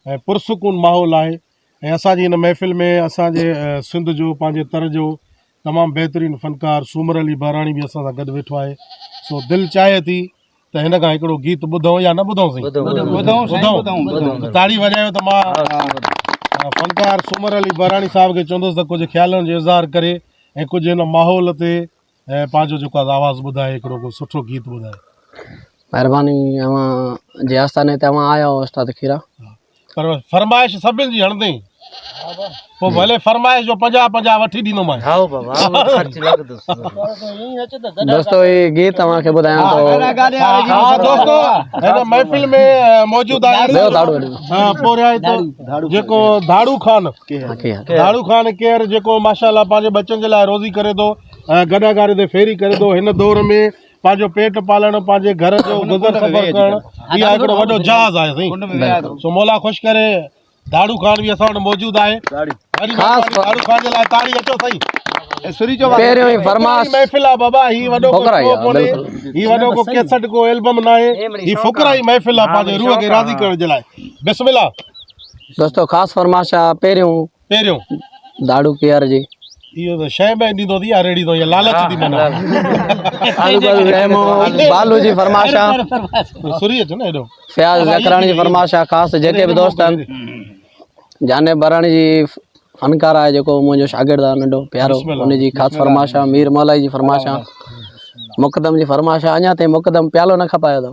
۽ پرسڪون ماحول آهي ۽ اسان جي هن محفل ۾ اسان جي سنڌ جو پنهنجي تر جو تمام بهترين فنڪار سومر علي بهراڻي به اسان سان گڏ ويٺو آهي سو دل چاهي ٿي ته هن کان هڪڙو گيت ٻڌون يا نه ٻڌون سائين تاڙي وڄايو ته مان فنڪار سومر علي بهراڻي صاحب کي چوندس ته ڪجهه خيالن جو اظهار ڪري ۽ ڪجهه هن ماحول تي اي پنهنجو جيڪو آز آواز ٻڌاء هڪڙو ڪو سٺو گيت ٻڌاء. مهرباني اوهان جي آستاني تي اوهان آيا آهيو استاد کيرا. پر فرمائش سڀن جي هڻندين پو ڀلي فرمائش جو پنجاهه پنجاهه وٺي ڏيندومانء. هائو بابا هو خرچ لڳندو سندو. دوستو هي گيت اوهان کي ٻڌايان ٿو. ها دوستو هن محفل ۾ موجود آهن پورهيائتو جيڪو ڌاڙو خان ڌاڙو خان ڪيئر جيڪو ماشاءالله پنهنجي ٻچن جي لاء روزي ڪري ٿو ۽ گڏهه گاڏي تي ڦيري ڪري ٿو. هن دور ۾ پنهنجو پيٽ پالڻ ۽ پنهنجي گهر جو گذر سفر ڪرڻ اها هڪڙو وڏو جهاز آهي سائين. سو مولا خوش ڪري. ڌاڙو خان به اسان وٽ موجود آهي. وڏي مهرباني ڌاڙو خان جي لاء تاڙي اچو سائين. پهريون ئي فرماس ڦڪرائي. پهريون داڙو پيار جي اهو ته شي به ڏيندو اٿي يا ريڙهيندو يا لالچ ٿي منا آلو بل رحم بالو جي فرمائش آ سري اچو نه ايڏو فياض زڪراڻي جي فرمائش آ خاص جيڪي به دوست آهن جانب براڻي جي فنڪار آهي جيڪو منهنجو شاگرد آ ننڍو پيارو ان جي خاص فرمائش آ مير مولائي جي فرمائش آ مقدم جي فرمائش آ اڃا تائين مقدم پيالو نه کپايو اٿو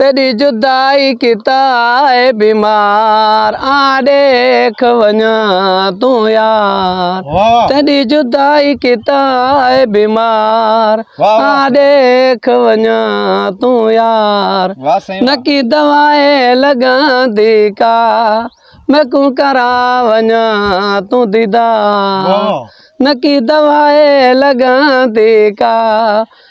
تيڏي جدائي ڪتا آهي بيمار آن ڏيک وڃان تون يار تيڏي جدائي ڪتا آهي بيمار آن ڏيک وڃان تون يار نڪي دوائي لڳندي ڪا ميڪون ڪران وڃان تون ديدار نڪي دوائي لڳندي ڪا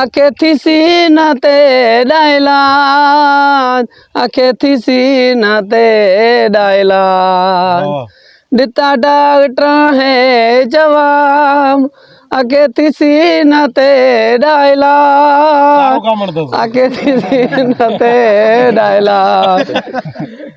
اکي ٿي سينه تي ڏائي لان اکي ٿي سينه تي ڏائي لان ڏتا ڊاڪٽرن هي جواب اکي ٿي سينه تي ڏائي لان اکي ٿي سينه تي ڏائي لان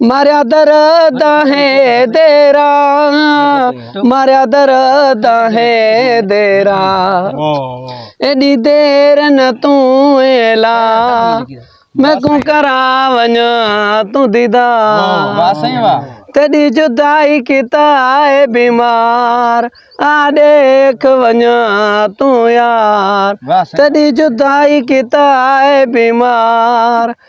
ماريا در داهي ديرا ماريا در داهي ديرا ايڏي دير نه تون ايلا ۾ ڪون ڪرا وڃا تون ديدا واهه سائين واهه تڏي جدائي ڪيتا اي بيمار آ ڏيک وڃا تون يار تڏي جدائي ڪيتا اي بيمار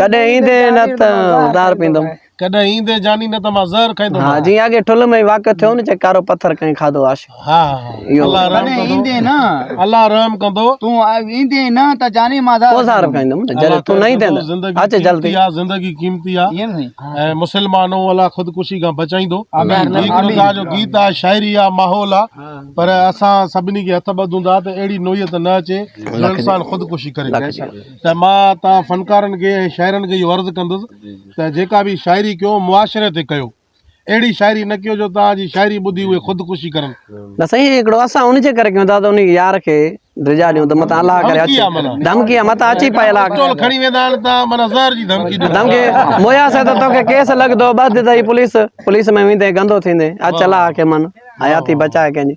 ڪڏهن ايندين نه ته ادار پيندم. ڪڏهن ايندين جاني نه ته مان زهر کائيندم. ها جيئن اڳي ٺل ۾ واقع ٿيو نه چي ڪارو پٿر ڪنهن کاڌو عاشق. ها ها الله رحم ڪندو. ڪڏهن ايندين نه. الله رحم ڪندو. تون ايندين نه ته جاني مان زهر کائيندم. جڏهن تون نه ايندين ته اچ جلدي. زندگي قيمتي آ. ائين سائين. ۽ مسلمانو الله خودڪشي کان بچائيندو. آمين. هي هڪ خدا جو گيت آ شاعري آ ماحول آ پر اسان سڀني کي هٿ ٻڌون ٿا ته اهڙي نوعيت نه اچي جو انسان خودڪشي ڪري. ته مان توهان فنڪارن کي ۽ شاعرن کي اهو عرض ڪندس ته جيڪا به شاعري ڪيو معاشري تي ڪيو اهڙي شاعري نه ڪيو جو توهان جي شاعري ٻڌي اهي خودڪشي ڪرن. نه سائين هڪڙو اسان ان جي ڪري ڪيون ٿا ته ان يار کي ڊجا ڏيون ته متان الله ڪري اچي ڌمڪي آ متان اچي پيل آ پسٽول کڻي ويندا آهن ته معنيٰ زهر جي ڌمڪي ڏيون ڌمڪي مويا سي ته توکي ڪيس لڳندو ٻڌ ته هي پوليس پوليس ۾ ويندين گندو ٿيندين اچ الله کي من حياتي بچاء ڪنهن جي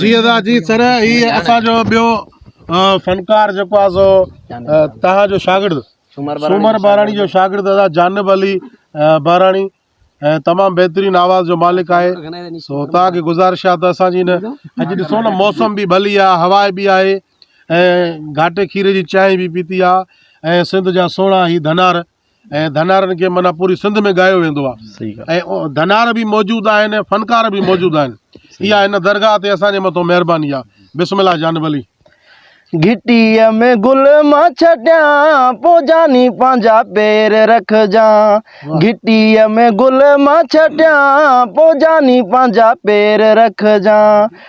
جي ادا جي سر هي اسان جو ٻيو فنڪار جيڪو آ سو تها جو شاگرد سومر بهراڻي جو شاگرد ادا جانب علي بهراڻي ۽ تمام بهترين آواز جو مالڪ آهي سو تها کي گزارش آ ته اسان جي نه اڄ ڏسو نه موسم به ڀلي آ هوا به آهي ۽ گهاٽي کير جي چانهه به پيتي آ ۽ سنڌ جا سهڻا هي ڌنار ۽ ڌنارن کي معنيٰ پوري سنڌ ۾ ڳايو ويندو آهي صحيح ڳالهه ۽ ڌنار به موجود آهن ۽ فنڪار به موجود آهن اها هن درگاهه تي اسان جي مٿو مهرباني آهي بسم الله جانب علي. گهٽيء ۾ گل مان ڇٽيان پو جاني پنهنجا پير رکجان گهٽيء ۾ گل مان ڇٽيان پو جاني پنهنجا پير رکجان.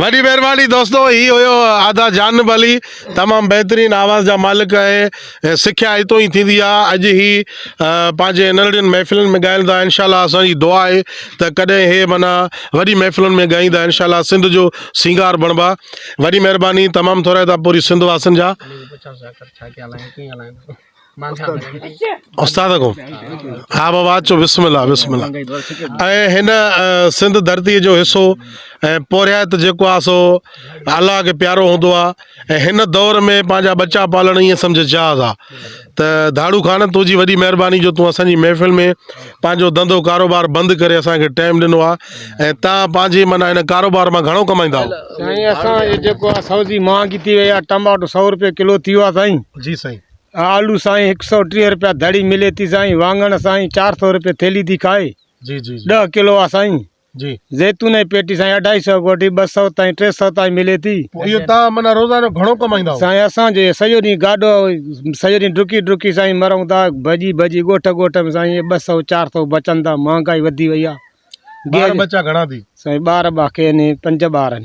وڏي مھرباني دوستو ھي ھيو ادا جانب علي تمام بھترين آواز جا مالڪ آھي سکيا ھتو ھي ٿيندي آ اڄ ھي پنھنجي انرڙين محفلن ۾ ڳائين ٿا انشاء الله اسان جي دعا آھي ته ڪڏھن ھي معنيٰ وڏي محفلن ۾ ڳائيندا انشاء الله سنڌ جو سينگار بڻبا وڏي مھرباني تمام ٿورا ھتا پوري سنڌ واسن جا استاد ڪو ها بابا اچو بسم الله بسم الله ۽ هن سنڌ ڌرتي جو حصو ۽ پورهيت جيڪو آ سو الله کي پيارو هوندو آ ۽ هن دور ۾ پنهنجا ٻچا پالڻ ائين سمجهه جهاز آ ته ڌاڙو خان تنهنجي وڏي مهرباني جو تون اسان جي محفل ۾ پنهنجو ڌنڌو ڪاروبار بند ڪري اسان کي ٽائيم ڏنو آ ۽ تان پنهنجي معنيٰ هن ڪاروبار مان گهڻو ڪمائيندا آهو. سائين اسان جو جيڪو آ سوزي مهانگي ٿي وئي آ ٽماٽو سؤ روپيه ڪلو ٿي ويو آ سائين جي سائين. آلو سائين هڪ سؤ ٽيهه روپيه دڙي ملي ٿي سائين وانگڻ سائين چار سؤ روپيه ٿيلي ٿي کائي جي جي جي. ڏهه ڪلو آ سائين زيتون ۽ پيٽي سائين اڍائي سئو کان وٺي ٻه سئو تائين ٽي سئو تائين ملي ٿي. پوء اهو تان معنيٰ روزانو گهڻو ڪمائيندا هئو؟ سائين اسان جو سڄو ڏينهن گاڏو سڄو ڏينهن ڊڪي ڊڪي سائين مرون ٿا ڀڄي ڀڄي ڳوٺ ڳوٺ ۾ سائين ٻه سئو چار سئو بچن ٿا مهانگائي وڌي وئي آهي. ٻار ٻچا گهڻا ٿي؟ سائين ٻار ٻا ڪين پنج ٻار آهن.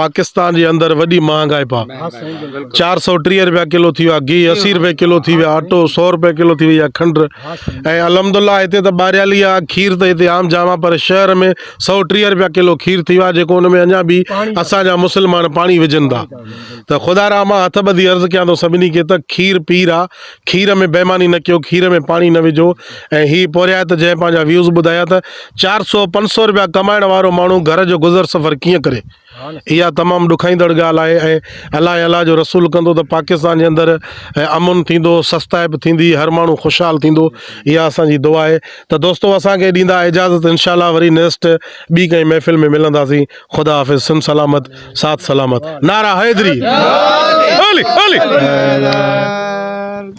پاڪستان جي اندر وڏي مهانگائپ آ چار سؤ ٽيهه روپيا ڪلو ٿي ويو آ گيهه اسي روپيه ڪلو ٿي ويو آ اٽو سؤ روپيه ڪلو ٿي ويئي آ کنڊ ۽ الحمد الله هتي ته ٻاريالي آ کير ته هتي عام جام آ پر شهر ۾ سؤ ٽيهه روپيا ڪلو کير ٿي ويو آ جيڪو ان ۾ اڃا به اسان جا مسلمان پاڻي وجهن ٿا ته خدا رحمان هٿ ٻڌي عرض ڪيان ٿو سڀني کي ته کير پير آ کير ۾ بيماني نه ڪيو کير ۾ پاڻي نه وجهو ۽ هي پورهيت جنهن پنهنجا ويوز ٻڌايا ته چار سؤ پنج سؤ روپيا ڪمائڻ وارو ماڻهو گهر جو گذر سفر ڪيئن ڪري اها تمام ڏکائيندڙ ڳالهه آهي ۽ الله الله جو رسول ڪندو ته پاڪستان جي اندر امن ٿيندو سستائپ ٿيندي هر ماڻهو خوشحال ٿيندو اها اسان جي دعا آهي ته دوستو اسان کي ڏيندا اجازت انشاء الله وري نيسٽ ٻي ڪنهن محفل ۾ ملنداسين خدا حافظ سن سلامت سات سلامت نعرا حيدري